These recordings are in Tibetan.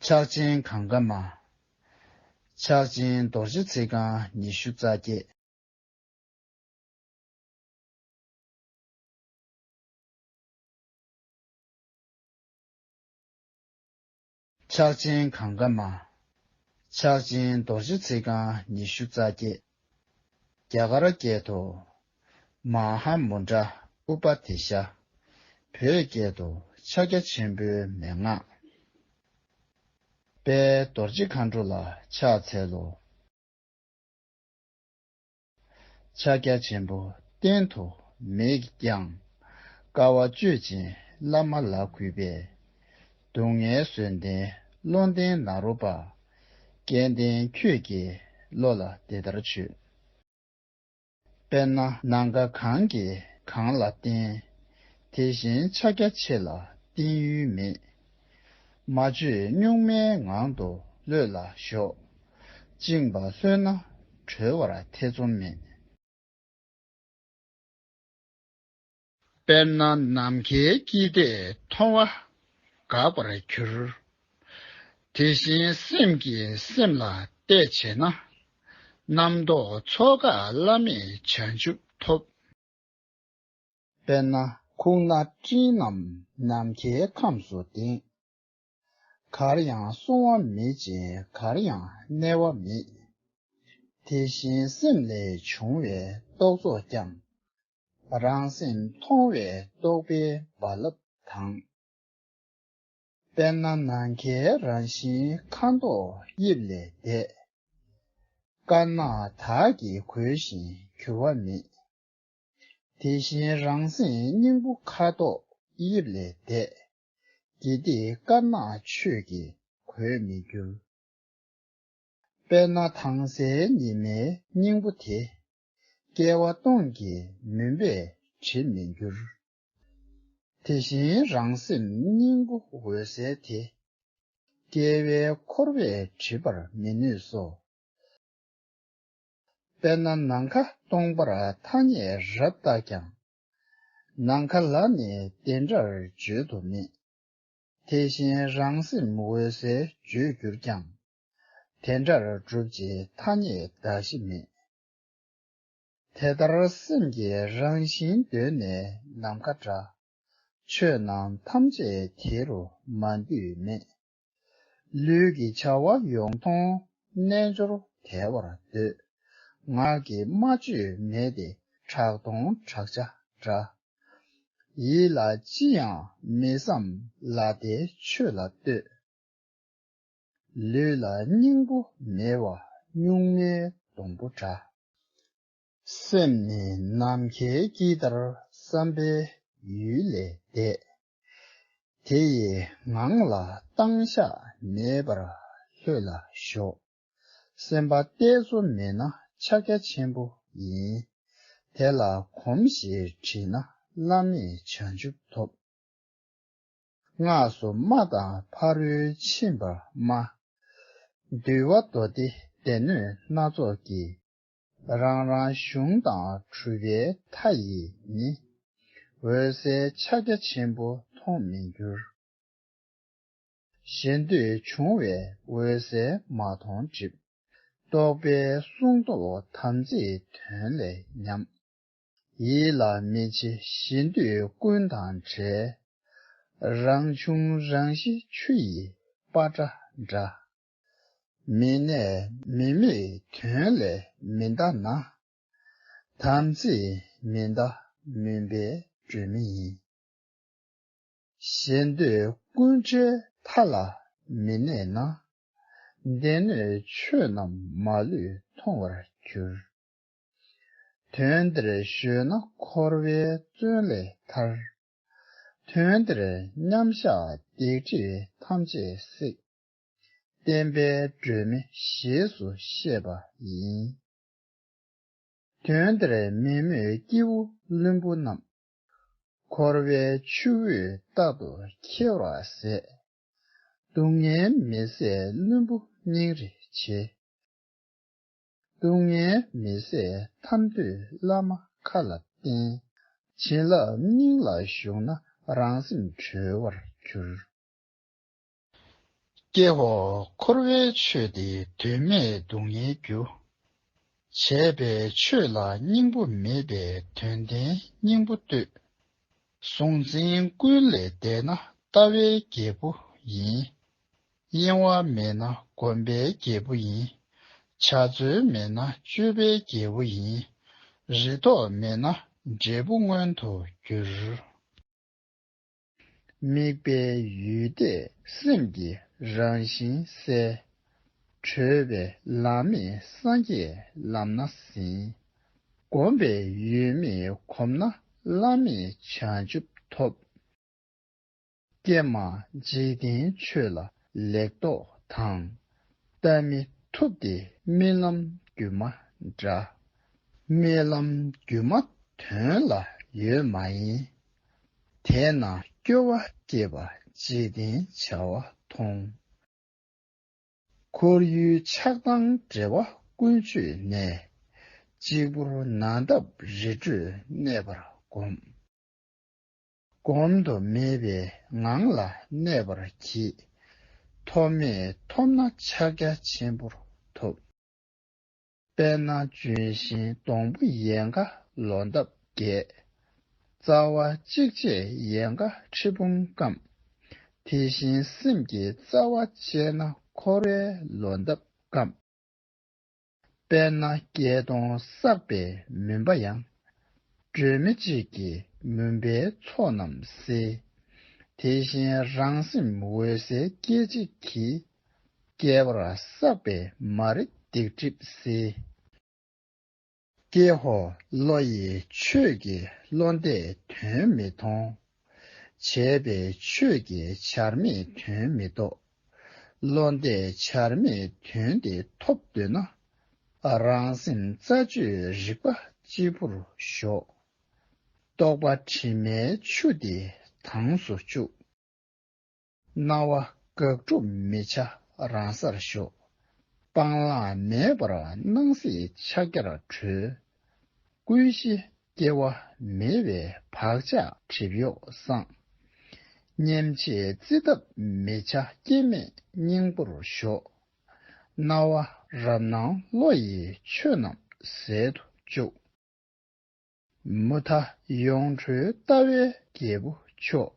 ཕྱག་ཆེན་གང་གཱ་མ། ཕྱག་ཆེན་རྡོ་རྗེ་ཚིག་རྐང་ཉི་ཤུ་རྩ་བརྒྱད། ཕྱག་ཆེན་གང་གཱ་མ། ཕྱག་ཆེན་རྡོ་རྗེ་ཚིག་རྐང་ཉི་ཤུ་རྩ་བརྒྱད། རྒྱ་གར་སྐད་དུ། མ་ཧཱ་མུ་དྲ་ཨུ་པ་དེ་ཤ། བོད་སྐད་དུ། ཕྱག་རྒྱ་ཆེན་པོའི་མན་ངག། དཔལ་རྡོ་རྗེ་མཁའ་འགྲོ་ལ་ཕྱག་འཚལ་ལོ། ཕྱག་རྒྱ་ཆེན་པོ་བསྟན་དུ་མེད་ཀྱང། དཀའ་བ་སྤྱོད་ཅིང་བླ་མ་ལ་གུས་པས། སྡུག་བསྔལ་བཟོད་ལྡན་བློ་ལྡན་ནཱ་རོ་པ། སྐལ་ལྡན་ཁྱོད་ཀྱིས་བློ་ལ་འདི་ལྟར་བྱོས། དཔེར་ན་ན་རྒ་གང་གིས་གང་ལ་བརྟེན། དེ་བཞིན་ཕྱག་རྒྱ་ཆེ་ལ་བརྟེན་ཡུལ་མེད། མ་བཅོས་གཉུག་མའི་ངང་དུ་ལྷོད་ལ་ཞོག། བཅིངས་པ་ལྷོད་ན་གྲོལ་བར་ཐེ་ཚོམ་མེད། དཔེར་ན་ནམ་མཁའི་དཀྱིལ་ལྟས་མཐོང་བ་འགག་པར་གྱུར། དེ་བཞིན་སེམས་ཀྱིས་སེམས་ལ་ལྟས་བྱས་ན། རྣམ་རྟོག་ཚོགས་འགག་བླ་མེད་བྱང་ཆུབ་ཐོབ། དཔེར་ན་ཁུག་ན་སྤྲིན་རྣམས་ནམ་མཁའི་ཁམས་སུ་ལྡིང། གར་ཡང་སོང་བ་མེད་ཅིང་གར་ཡང་གནས་བ་མེད། དེ་བཞིན་སེམས་ལས་བྱུང་བའི་རྟོག་ཚོགས་ཀྱང། རང་སེམས་མཐོང་བས་རྟོགས་པའི་རྦ་རླབས་དང། དཔེར་ན་ནམ་མཁའི་རང་བཞིན་ཁ་མདོག་དབྱིབས་ལས་འདས། དཀར་ནག་དག་གིས་གོས་བཞིན་གྱུར་བ་མེད། དེ་བཞིན་རང་སེམས་སྙིང་པོ་ཁ་དོག་དབྱིབས་ལས་འདས། དགེ་སྡིག་དཀར་ནག་ཆོས་ཀྱིས་གོས་མི་འགྱུར། དཔེར་ན་དྭངས་གསལ་ཉི་མའི་སྙིང་པོ་དེ། སྐྱེ་བ་སྟོང་གི་མུན་པས་བྲི་མི་འགྱུར། དེ་བཞིན་རང་སེམས་སྙིང་པོ་འོད་གསལ་དེ། སྐྱེ་བའི་འཁོར་བས་བྲི་བར་མི་ནུས་སོ། དཔེར་ན་ནམ་མཁའ་སྟོང་པར་ཐ་སྙད་རབ་བཏགས་ཀྱང། ནམ་མཁའ་ལ་ནི་དེ་འདྲར་བརྗོད་དུ་མེད། དེ་བཞིན་རང་སེམས་འོད་གསལ་བརྗོད་གྱུར་ཀྱང། དེ་འདྲར་བསྒྲུབ་བྱའི་ཐ་སྙད་གདགས་གཞི་མེད། དེ་ལྟར་སེམས་ཀྱི་རང་བཞིན་གདོད་ནས་ནམ་མཁའ་འདྲ། ཆོས་རྣམས་ཐམས་ཅད་དེ་རུ་མ་འདུས་མེད། ལུས་ཀྱི་བྱ་བ་ཡོངས་མཐོང་རྣལ་འབྱོར་དལ་བར་འདོད། ངག་གི་སྨྲ་བརྗོད་མེད་དེ་གྲགས་སྟོང་བྲག་ཆ་འདྲ། ཡིད་ལ་ཅི་ཡང་མི་བསམ་ལ་དེ་ཆོས་ལ་ལྟོས། ལུས་ལ་སྙིང་པོ་མེད་བ་སྨྱུག་མའི་སྡོང་པོ་འདྲ། སེམས་ནི་ནམ་མཁའི་དཀྱིལ་ལྟར་བསམ་པའི་ཡུལ་ལས་འདས། དེ་ཡི་ངང་ལ་བཏང་བཞག་མེད་པར་ལྷོད་ལ་ཞོག། སེམས་པ་གཏད་སོ་མེད་ན་ཕྱག་རྒྱ་ཆེན་པོ་ཡིན། དེ་ལ་གོམས་ཞེས་བྲིས་ན་བླ་མེད་བྱང་ཆུབ་ཐོབ། སྔགས་སུ་སྨྲ་དང་ཕ་རོལ་ཕྱིན་པར་སྨྲ། འདུལ་བ་མདོ་སྡེ་སྡེ་སྣོད་སྣ་ཚོགས་ཀྱི། རང་རང་གཞུང་དང་གྲུབ་པའི་མཐའ་ཡིས་ནི། འོད་གསལ་ཕྱག་རྒྱ་ཆེན་པོ་མཐོང་མི་འགྱུར། ཞེ་འདོད་འབྱུང་བས་འོད་གསལ་མ་མཐོང་སྒྲིབ། རྟོག་པའི་སྲུང་ཟློག་དམ་ཚིག་དོན་ལས་ཉམས། ཡིད་ལ་མི་བྱེད་གཞི་འདོད་ཀུན་དང་བྲལ། རང་བྱུང་རང་བཞི་ཆུ་ཡི་པ་ཏྲ་འདྲ། མི་གནས་མི་དམིགས་དོན་ལས་མི་འདའ་ན། དམ་ཚིག་མི་འདའ་མུན་པའི་སྒྲོན་མེ་ཡིན། གཞི་འདོད་ཀུན་བྲལ་མཐའ་ལ་མི་གནས་ན། སྡེ་སྣོད་ཆོས་རྣམས་མ་ལུས་མཐོང་བར་འགྱུར། དོན་འདིར་གཞོལ་ན་འཁོར་བའི་བཙོན་ལས་ཐར། དོན་འདིར་མཉམ་བཞག་བརྡེག་འཁྲིས་ཐམས་ཅད་བསྲེགས། བསྟན་པའི་སྒྲོན་མེ་ཞེས་སུ་བཤད་པ་ཡིན། དོན་འདིར་མེད་མོད་སྐྱེས་བུ་བླུན་པོ་རྣམས། འཁོར་བའི་ཆུ་བོས་རྟག་ཏུ་འཁྱེར་བར་ཟད། སྡུག་བསྔལ་མི་བཟད་བླུན་པོ་སྙིང་རེ་བྱེད། སྡུག་བསྔལ་མི་བཟད་ཐམས་འདོད་བླ་མ་མཁའ་ལ་བརྟེན། བྱིན་རླབས་སྙིང་ལ་ཞུགས་ན་རང་སེམས་གྲོལ་བར་འགྱུར། སྐྱེ་བོ་འཁོར་བའི་ཆོས་འདི་དོན་མེད་སྡུག་བསྔལ་རྒྱུ། བྱས་པའི་ཆོས་ལ་སྙིང་པོ་མེད་པས་དོན་ལྡན་སྙིང་པོ་ལྟོས། གཟུང་འཛིན་ཀུན་ལས་འདས་ན་ལྟ་བའི་རྒྱལ་པོ་ཡིན། གཡེང་བ་མེད་ན་སྒོམ་པའི་རྒྱལ་པོ་ཡིན། བྱ་རྩོལ་མེད་ན་སྤྱོད་པའི་རྒྱལ་པོ་ཡིན། རེ་དོགས་མེད་ན་འབྲས་བུ་མངོན་དུ་འགྱུར། དམིགས་པའི་ཡུལ་དེས་སེམས་ཀྱི་རང་བཞིན་གསལ། གྲོལ་བའི་ལམ་མེད་སངས་རྒྱས་ལམ་ན་ཟིན། སྒོམ་པའི་ཡུལ་མེད་གོམས་ན་བླ་མེད་བྱང་ཆུབ་ཐོབ། ཀྱེ་མ་འཇིག་རྟེན་ཆོས་ལ་ལེགས་རྟོགས་དང། བལྟ་མི་ཐུབ་སྟེ་རྨི་ལམ་སྒྱུ་མ་འདྲ། རྨི་ལམ་སྒྱུ་མ་དོན་ལ་ཡོད་མ་ཡིན། དེས་ན་སྐྱོ་བ་སྐྱེས་པ་འཇིག་རྟེན་བྱ་བ་མཐོང། ཁོར་ཡུལ་ཆགས་སྡང་འབྲེལ་བ་ཀུན་གཅོད་ནས། གཅིག་པུར་ན་འདབ་རི་ཁྲོད་གནས་པར་བསྒོམས། བསྒོམ་དུ་མེད་པའི་ངང་ལ་གནས་པར་གྱིས། ཐོབ་མེད་ཐོབ་ན་ཕྱག་རྒྱ་ཆེན་པོར་ཐོབ། དཔལ་ནག་ལྗོན་ཤིང་སྡོང་པོ་ཡལ་ག་ལོ་འདབ་བརྒྱད། རྩ་བ་གཅིག་ཆད་ཡལ་ག་ཁྲི་འབུམ་སྐམ། དེ་བཞིན་སེམས་ཀྱི་རྩ་བ་བཅད་ན་འཁོར་བའི་ལོ་འདབ་སྐམ། དཔལ་ནཱ་རྒྱལ་སྟོང་བསགས་པའི་མུན་པ་ཡང། སྒྲོན་མེ་གཅིག་གིས་མུན་པའི་ཚོགས་རྣམས་སེལ། དེ་བཞིན་རང་སེམས་འོད་གསལ་སྐད་ཅིག་གིས། བསྐལ་བར་བསགས་པའི་མ་རིག་སྡིག་སྒྲིབ་སེལ། ཀྱེ་ཧོ་བློ་ཡི་ཆོས་ཀྱི་བློ་འདས་དོན་མི་མཐོང། བྱས་པས་ཆོས་ཀྱི་བྱར་མེད་དོན་མི་རྟོགས། བློ་འདས་བྱར་མེད་དོན་དེ་ཐོབ་འདོད་ན། རང་སེམས་རྩ་གཅོད་རིག་པ་སྤྱི་བོར་ཞོག། རྟོག་པ་དྲི་མའི་ཆུ་དེ་དྭངས་སུ་བཅུག། སྣང་བ་དགག་སྒྲུབ་མི་བྱ་རང་སར་ཞོག། སྤང་བླང་མེད་པར་སྣང་སྲིད་ཕྱག་རྒྱར་གྲོལ། ཀུན་གཞི་སྐྱེ་བ་མེད་པའི་བག་ཆགས་གྲིབ་གཡོག་སངས། སྙེམས་བྱེད་རྩིས་གདབ་མི་བྱ་སྐྱེ་མེད་སྙིང་པོར་ཞོག། སྣང་བ་རབ་སྣང་བློ་ཡིས་ཆོས་རྣམས་ཟད་དུ་བཅུག། མུ་མཐའ་ཡོངས་གྲོལ་ལྟ་བའི་རྒྱལ་པོ་མཆོག།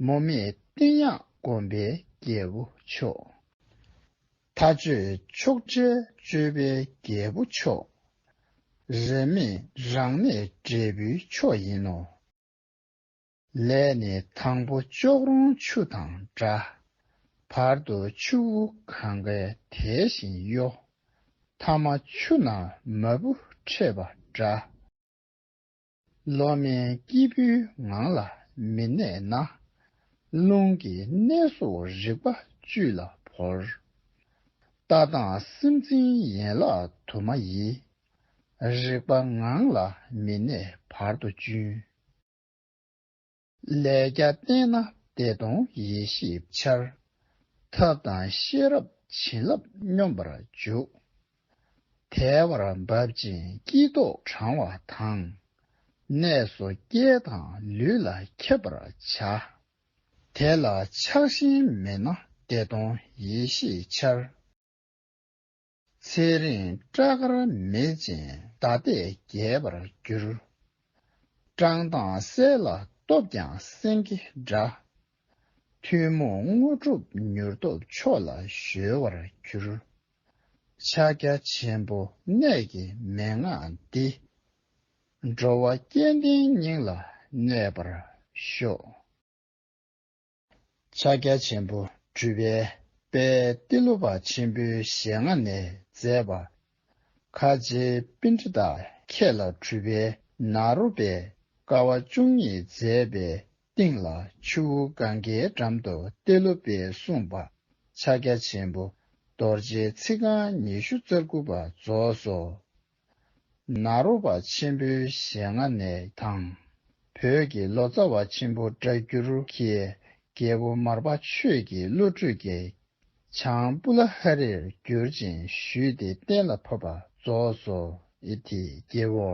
མུ་མེད་བསྟན་དབྱངས་སྒོམ་པའི་རྒྱལ་པོ་མཆོག། མཐའ་གཅོད་ཕྱོགས་བྲལ་སྤྱོད་པའི་རྒྱལ་པོ་མཆོག། རེ་མེད་རང་གནས་འབྲས་བུའི་མཆོག་ཡིན་ནོ། ལས་ནི་དང་པོ་ལྕོག་རོང་ཆུ་དང་འདྲ། བར་དུ་ཆུ་བོ་གང་གཱའི་དལ་བཞིན་གཡོ། ཐ་མ་ཆུ་ནག་མ་བུ་འཕྲད་པ་འདྲ། བློ་དམན་སྐྱེས་བུའི་ངང་ལ་མི་གནས་ན། རླུང་གི་གནས་སོགས་རིག་པ་བཅུད་ལ་བོར། ལྟ་སྟངས་སེམས་ཅན་ཡན་ལག་དུ་མ་ཡི། རིག་པ་ངང་ལ་མི་གནས་བར་དོ་གཅུན། ལས་རྒྱ་བརྟན་ན་བདེ་སྟོང་ཡེ་ཤེས་འཆར། ཐབས་དང་ཤེས་རབ་བྱིན་རླབས་སྙོམས་པར་འཇུག། དལ་བར་འབབ་ཅིང་སྐྱིད་རྟོགས་དྲང་བ་དང། ནད་གསོ་སྐྱེ་དང་ལུས་ལ་ཁྱབ་པར་བྱ། དེ་ལ་ཆགས་ཞེན་མེད་ན་བདེ་སྟོང་ཡེ་ཤེས་འཆར། ཚེ་རིང་སྐྲ་དཀར་མེ་ཅན་ཟླ་པས་རྒྱས་པར་འགྱུར། བཀྲག་མདངས་གསལ་ལ་སྟོབས་ཀྱང་སེང་གེ་འདྲ། ཐུན་མོང་དངོས་གྲུབ་མྱུར་ཐོབ་མཆོག་ལ་གཞོལ་བར་འགྱུར། ཕྱག་རྒྱ་ཆེན་པོ་གནད་ཀྱི་མན་ངག་འདི། འགྲོ་བ་སྐལ་ལྡན་སྙིང་ལ་གནས་པར་ཤོག། ཕྱག་རྒྱ་ཆེན་པོ་སྤྲུལ་པའི་དཔལ་ཏེ་ལོ་པ་ཆེན་པོའི་ཞལ་སྔ་ནས་མཛད་པ། ཁ་ཆེའི་དཔེ་འདི་དག་ཁྱེད་ལ་གྲུབ་པས་ན་རོ་པས་དཀའ་བ་བཅུ་གཉིས་མཛད་པའི་སྟེང་ལ་ཆུ་བོ་གངྒཱའི་འགྲམ་དུ་ཏེ་ལོ་པས་གསུངས་པ་ཕྱག་རྒྱ་ཆེན་པོ་རྡོ་རྗེའི་ཚིག་རྐང་ཉི་ཤུ་རྩ་དགུ་པ་རྫོགས་སོ། ནཱ་རོ་པ་ཆེན་པོའི་ཞལ་སྔ་ནས་དང། བོད་ཀྱི་ལོ་ཙཱ་བ་ཆེན་པོ་སྒྲ་བསྒྱུར་གྱི་རྒྱལ་པོ་མར་པ་ཆོས་ཀྱི་བློ་གྲོས་ཀྱིས་བྱང་པུ་ལ་ཧ་རིར་བསྒྱུར་ཅིང་ཞུས་ཏེ་གཏན་ལ་ཕབ་པ་རྫོགས་སོ། ཨི་ཐི་རྒྱལ་བོ།